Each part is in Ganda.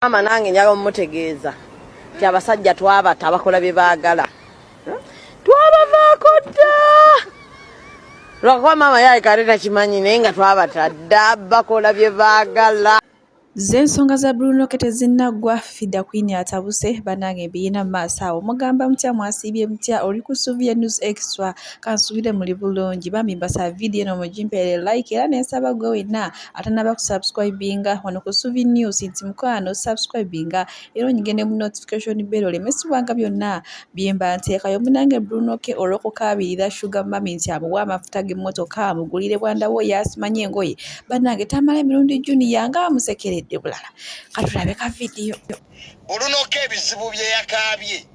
Maama nange njala omutegeeza nti abasajja twabata abakola bye baagala twabavaako dda lwakuba maama yayekale takimanyi naye nga twabata dda bakola bye baagala z'ensonga za brunoke tezinnaggwa fida kwini atabuse banange mbiyina mu maaso awo mugamba mutya mwasiibye mutya oli ku suvie news extra kansubire muli bulungi bambi mbasaba vidiyo eno mugimpeere like era nensaba gwe wenna atanaba kusubscribinga wano ku suvi news nti mukwano subscribinga era onyigende mu notification bell olemesibwanga byonna byemba nteekayo munange brunoke olwokukaabirira sugar mami nti amuwa amafuta g'emmotoka amugulire bwandawo yasimanya engoye banange tamala emirundi juniya nga amusekeredde bulala katulabe ka vidiyo bulunoka ebizibu byeyakaabye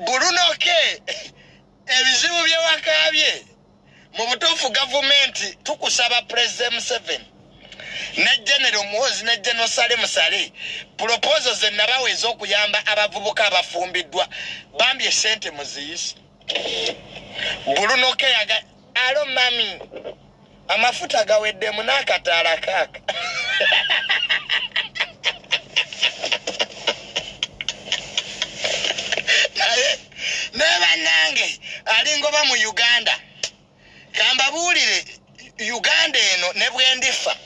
bulunoke ebizibu byewakaabye mu butuufu gavumenti tukusaba pulezidenti museveni ne genero muhozi ne genero sale musale pulopozo ze nabawa ez'okuyamba abavubuka abafumbiddwa bambi esente muziyise bulunoke yaga Alo mami. Amafuta gawedde mu nakataala kaka. Neba nange alingoba mu Uganda. Kamba bulire Uganda eno ne bwendifa.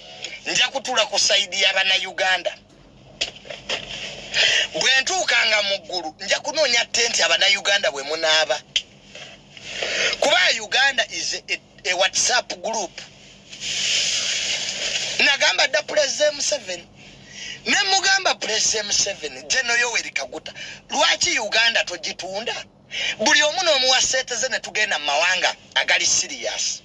Nja kutula ku side ya bana Uganda. bwentuukanga mu ggulu nja kunoonya tenti abanauganda bwe munaaba kuba uganda is a, a whatsapp group nagamba dda pulezida museveni ne mugamba pulezida museveni geno yoweri kaguta lwaki uganda togitunda buli omu n'omuwa seete ze ne tugenda mu mawanga agali siriyasi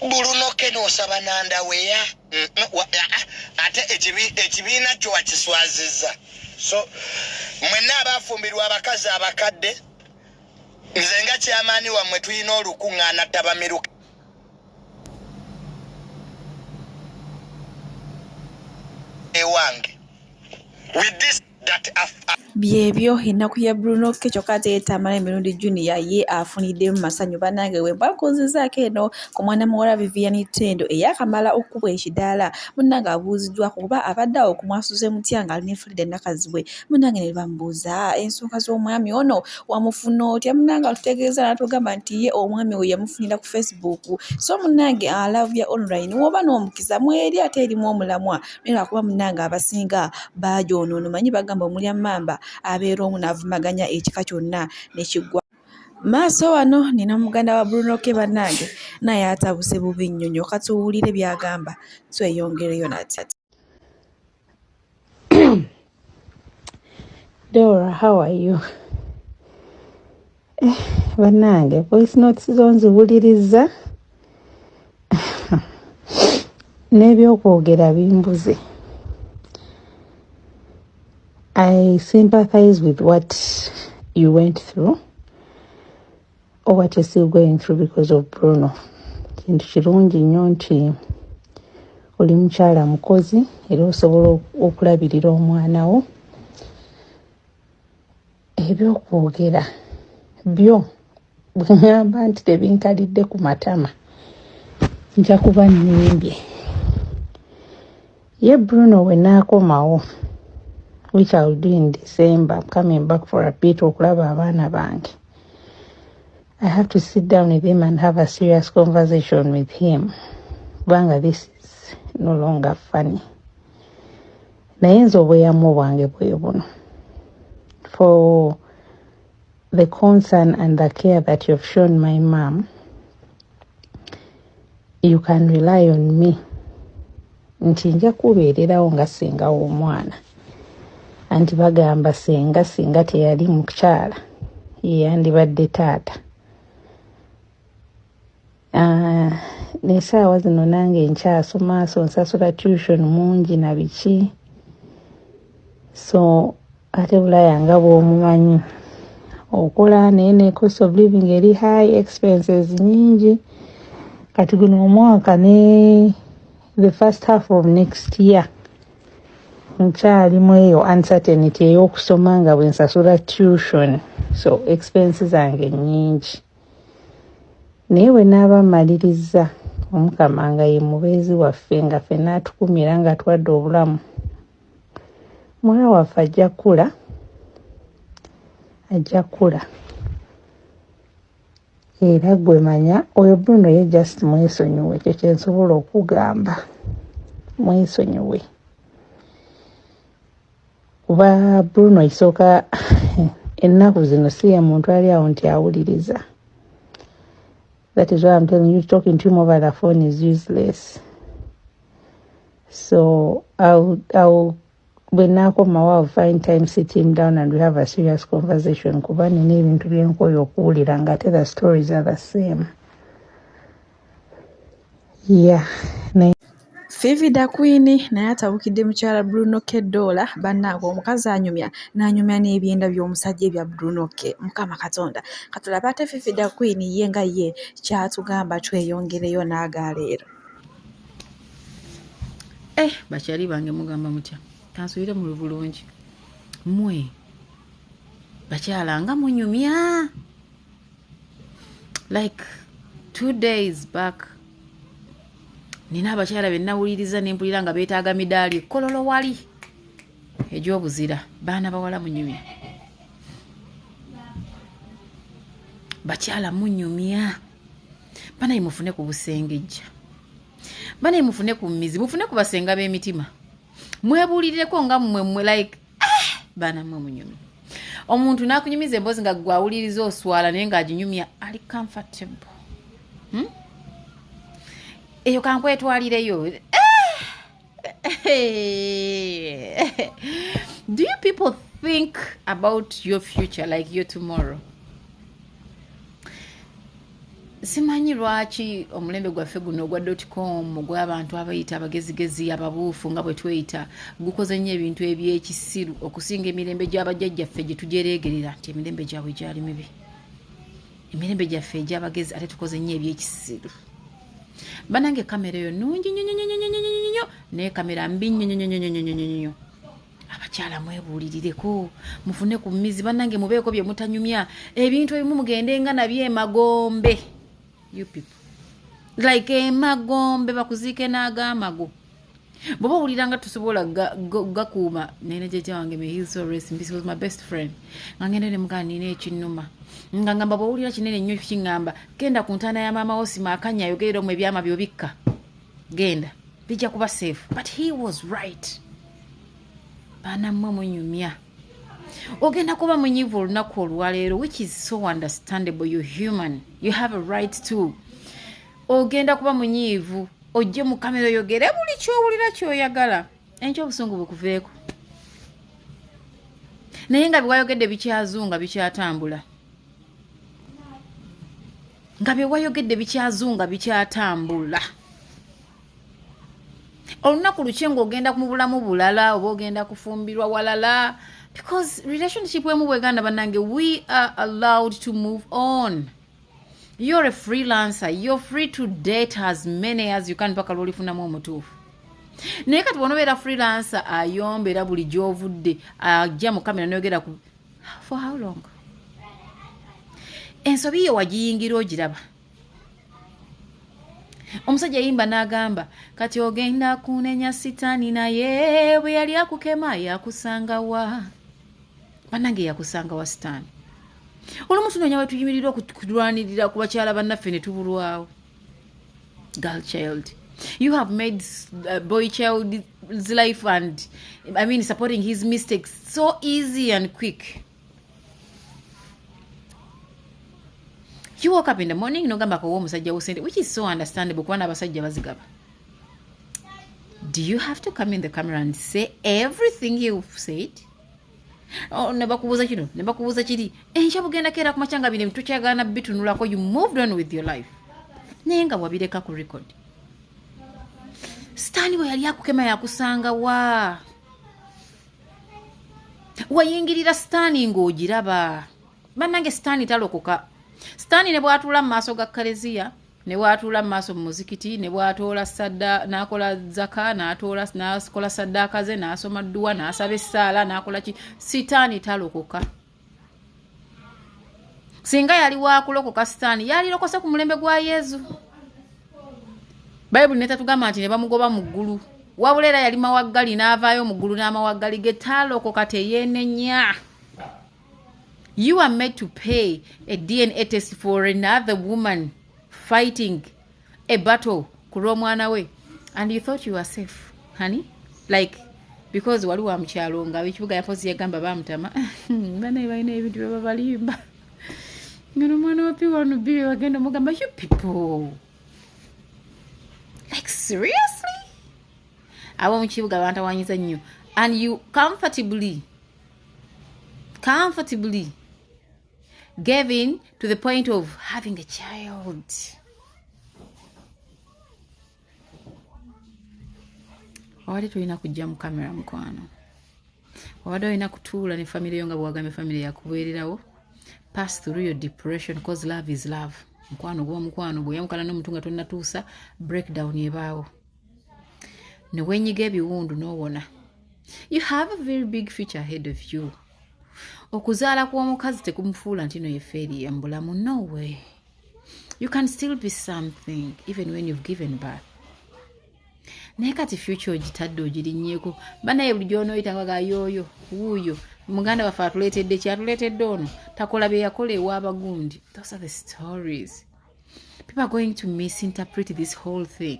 bulunoke nosaba nandaweya mm, mm, ah, ah, ate ekibiina kyo wakiswaziza so mwenna abafumbirwa abakazi abakadde nze nga kyamaani wammwe tulina olukuŋŋaana tabamiruka ewange with this byebyo ennaku ya bruno ke kyokka ate yetamala emirundi junior ye afuniddemu masanyu banange wembakuuzizaako eno ku mwana muwala vivian tendo eyakamala okukubwa ekidaala munange abuuziddwa kuba abadde awo kumwasuze mutya nga ali ne frida nakazibwe munange ne bamubuuza ensonga z'omwami ono wamufuna otya munange atutegeeza natugamba nti ye omwami we yamufunira ku facebook so munange alavya online woba n'omukisa mweri ate erimu omulamwa era kuba munange abasinga baagyonoona omanyi bagamba omulya mmamba abeera omu n'avumaganya ekika kyonna ne kiggwa maaso wano nina muganda wa bruno ke bannange naye atabuse bubi nnyo nyo katuwulire byagamba tweyongereyo nati Dora, how are you? Eh, bannange voice notes zo nziwuliriza n'ebyokwogera bimbuze i sympathize with what you went through Oh, what is still going through because of Bruno. Kintu kirungi nnyo nti oli mukyala mukozi era osobola okulabirira omwana wo. Ebyokwogera byo bwe ŋŋamba nti tebinkalidde ku matama nja kuba nnimbye. Ye Bruno we naakomawo which I will do in December. I'm coming back for a bit okulaba abaana bange. I have to sit down with him and have a serious conversation with him. Kubanga this is no longer funny. Naye nze obweyamu bwange bwe buno. For the concern and the care that you've shown my mom, you can rely on me nti nja kubeererawo nga singa w'omwana anti bagamba singa singa teyali mukyala yeyandibadde taata Ah, nesaawa zino nange nkyasoma so nsasula tution mungi na biki so ate bulaya nga bwomumanyi okola naye ne cost of living eri high expenses nyingi kati guno omwaka ne the first half of next year nkyali mu eyo uncertainty ey'okusoma nga bwensasula tution so expense zange nyingi naye bwe naaba mmalirizza omukama nga ye mubeezi waffe nga ffe naatukumira nga twadde obulamu mwana waffe ajja kukula ajja kukula era gwe manya oyo bruno ye just mwesonyiwe ekyo kyensobola okugamba mwesonyiwe kuba bruno isooka ennaku zino si ye muntu ali awo nti awuliriza that is why I'm telling you talking to him over the phone is useless so I'll, I'll when I come I will find time sit him down and we have a serious conversation kuba nina ebintu byenkoyo okuwulira nga ate the stories are the same yeah Fifi da Queen naye atabukidde mukyala Bruno K Dollar bannange omukazi anyumya n'anyumya n'ebyenda by'omusajja ebya Bruno K mukama katonda katulaba ate Fifi da Queen ye nga ye kyatugamba tweyongereyo n'aga leero eh bakyali bange mugamba mutya kansubire mu bulungi mwe bakyala nga munyumya like two days back nina abakyala benawuliriza nempulira nga betaaga midaali kololo wali egyobuzira baana bawala munyumya bakyala munyumya banaye mufune ku busengejja banaye mufune ku mizi mufune ku basenga b'emitima mwebuulireko nga mmwe mmwe like ah! baana mwe munyumi omuntu nakunyumiza emboozi nga gwawuliriza oswala naye ngaaginyumya ali comfortable hmm? eyo kankwetwalireyo do you people think about your future like your tomorrow simanyi lwaki omulembe gwaffe guno ogwa dotcom ogw'abantu abayita abagezigezi ababuufu nga bwe tweyita gukoze nnyo ebintu eby'ekisiru okusinga emirembe gy'abajjajjaffe gye tujereegerera nti emirembe gyabwe gyali mibi emirembe gyaffe egy'abagezi ate tukoze nnyo eby'ekisiru banange kamera eyo nungi nyonyonyonyonyonyonyo naye kamera mbi nyonyonyonyonyonyonyo abakyala mwebuulirireko mufune ku mizi bannange mubeeko bye mutanyumya ebintu ebimu mugende nga nabyo emagombe you people like emagombe bakuziike n'agaamago bwoba owulira nga tusobola gakuuma nene jeja wange mehilsoresmbiswas my best friend nga ngenda nemugaa nina ekinuma nga ngamba bwowulira kinene nnyo kiŋŋamba genda ku ntaana ya maama wo simaakanya ayogerera omu ebyama byobikka genda bijja kuba safe but he was right banamwe munyumya ogenda kuba munyivu olunaku olwaleero which is so understandable you human you have a right to ogenda kuba munyiivu ojje mu kamera oyogere buli kyowulira kyoyagala enkyo obusungu bukuveeko naye nga biwayogedde bikyazunga bikyatambula nga byewayogedde bikyazunga bikyatambula olunaku lukye ngaogenda mu bulamu bulala oba ogenda kufumbirwa walala because relationship emu bweganda banange we are allowed to move on you're a freelancer you're free to date as many as you can paka lwolifunamu omutuufu naye kati bonobeera freelancer ayomba era buli gyovudde ajja mu kamera noyogera ku for how long ensobi yo wagiyingira ogiraba omusajja yayimba n'agamba kati ogenda kunenya sitaani naye bwe yali akukema yakusanga wa banange yakusanga wa sitaani olumu tunoonya wetuyimirira okulwanirira ku bakyala bannaffe ne tubulwawo girl child you have made uh, boy child's life and i mean supporting his mistakes so easy and quick you woke up in the morning nogamba kowa omusajja wo sente which is so understandable kuba n'abasajja bazigaba do you have to come in the camera and say everything you said oh, nebakubuuza kino nebakubuuza kiri enkya bugenda keera ku makyanga bino tukyagaana bitunulako you moved on with your life naye nga wabireka ku record sitaani bwe yali akukema yakusanga waa wayingirira sitaani ng'ogiraba bannange sitaani talokoka sitaani ne bwatuula mu maaso ga kareziya ne bwatuula mu maaso mu muzikiti ne bwatoola sadda n'akola zaka n'atoola n'akola saddaaka ze n'asoma dduwa n'asaba essaala n'akola ki sitaani talokoka singa yali wakulokoka sitaani yalirokose ku mulembe gwa yezu bayibuli netatugamba nti ne bamugoba mu ggulu wabula era yali mawaggali n'avaayo mu ggulu n'amawaggali ge taalokoka teyeenenya you are made to pay a dna test for another woman fighting a battle ku lw'omwana we and you thought you were safe honey like because wali wa mukyalo nga ekibuga yapozi yagamba bamutama banaye balina ebintu byebabalimba ngeno omwana wa piwanu bi wagenda omugamba you people like seriously ab'omu kibuga bantawanyiza nnyo and you comfortably comfortably gave in to the point of having a child wabadde tolina kujja mu kamera mukwano wabadde olina kutuula ne famire yo nga bwewagambye famire yakubeererawo pass through your depression because love is love mukwano gwomukwano bweyamukana nomuntu nga tonatuusa breakdown ebaawo ne wenyiga ebiwundu n'owona you have a very big future ahead of you okuzaala kw'omukazi tekumufuula nti no yefeeriya mu bulamu no way you can still be something even when you've given birth naye kati future ogitadde ogirinnyeko banaye buli gyonooyitawaga yooyo wuuyo muganda waffe atuleetedde kyatuleetedde ono takola bye yakola ew'abagundi those are the stories people are going to misinterpret this whole thing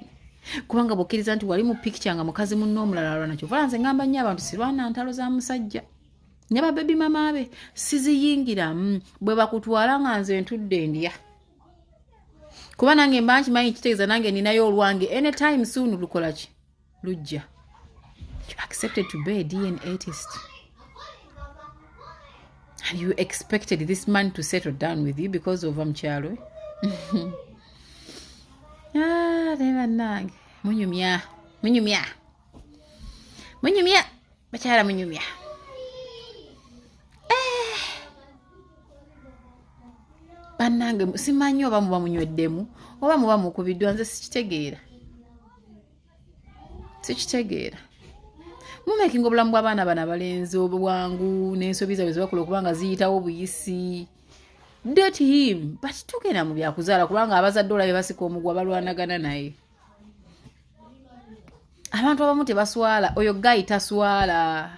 kubanga bwokkiriza nti wali mu picture nga mukazi munna omulala alwana kyovala nze ngamba nnyo abantu sirwana ntalo za musajja ne babebi mama be siziyingiramu mm, bwe bakutwala nga nze ntudde ndya kuba nange mba nkimanyi kitegeeza nange ninayo olwange anytime soon lukolaki lujja you accepted to be a dna test and you expected this man to settle down with you because ova mukyalo ah, naye bannange munyumya munyumya munyumya bakyala munyumya bannange simanyi oba muba munyweddemu oba muba mukubiddwa nze sikitegeera sikitegeera mumekinga obulamu bw'abaana bana balenzi obwangu n'ensobi zaabwe zebakola okuba nga ziyitawo buyisi date him but tugenda mu byakuzaala kubanga abazadde olabe basika omugwa balwanagana naye abantu abamu tebaswala oyo gayi taswala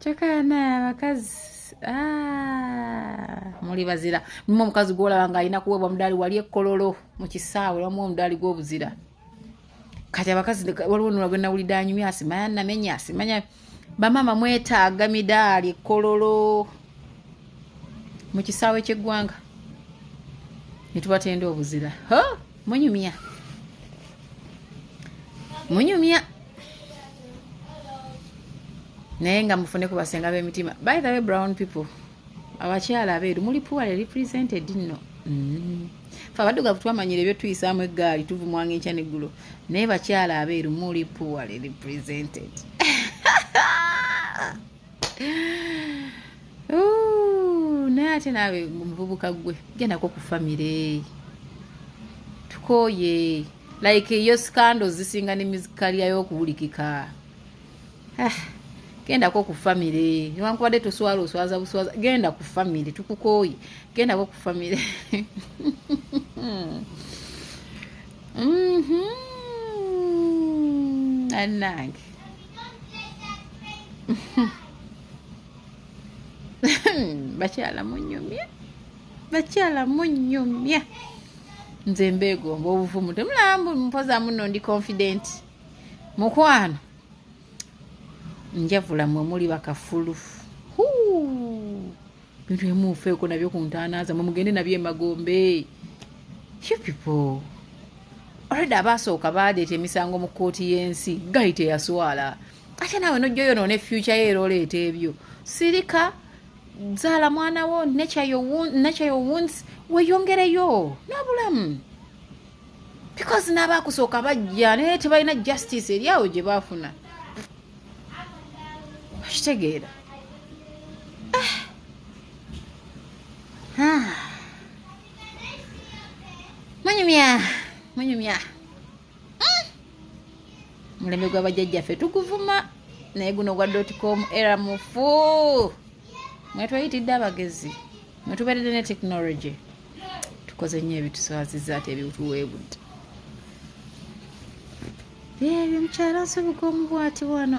kyokka banaye abakazi ah, muli bazira mumu omukazi gwolaba nga alina kuweebwa omudaali wali ekkololo mu kisaawe wamu omudaali gw'obuzira kati abakazi waliwo nula gwe nawulidde anyumya asimaya namenya asimanya bamaama mwetaaga midaali ekkololo mu kisaawe ky'eggwanga ne tubatenda obuzira munyumya munyumya naye nga mufune kubasenga bemitima by the way brown people abakyala abeeru muli puwale represented nno mm. fe abaddugavu twamanyira ebyotuyisaamu eggaali tuvumwanga enkya neggulo naye bakyala abeeru muli puwale represented naye ate naawe omuvubuka gwe gendako ku famire tukooye like eyo scandal zisinga ne mizika lyayo okuwulikika ah, gendako ku famire newankubadde toswala oswaza buswaza genda ku famire tukukooye gendako ku famire mm-hmm. anange bakyala munyumye bakyala munyumye nze mbeegomba obuvumu temulambu mpoza muno ndi confident mukwano njavula mwe muli bakafulu huu bintu emuufeeko nabyo ku ntaana zamwe mugende nabyo emagombe you people already abaasooka baleeta emisango mu kkooti y'ensi gayi teyaswala ate naawe nojja oyonoona efyuca yo era oleeta ebyo sirika zaala mwana wo nature your wounds weyongereyo n'obulamu because n'abaakusooka bajja naye tebalina justice eri awo gye baafuna okitegeera ah. munyumya munyumya hmm. mulembe gwa bajjajjaffe tuguvuma naye guno gwa dotcom era mufu mwetweyitidde abagezi mwetuberedde ne technology tukoze nnyo ebituswaziza ate ebiwtuweebudde ebyo mukyala nsobuka omu bwati wano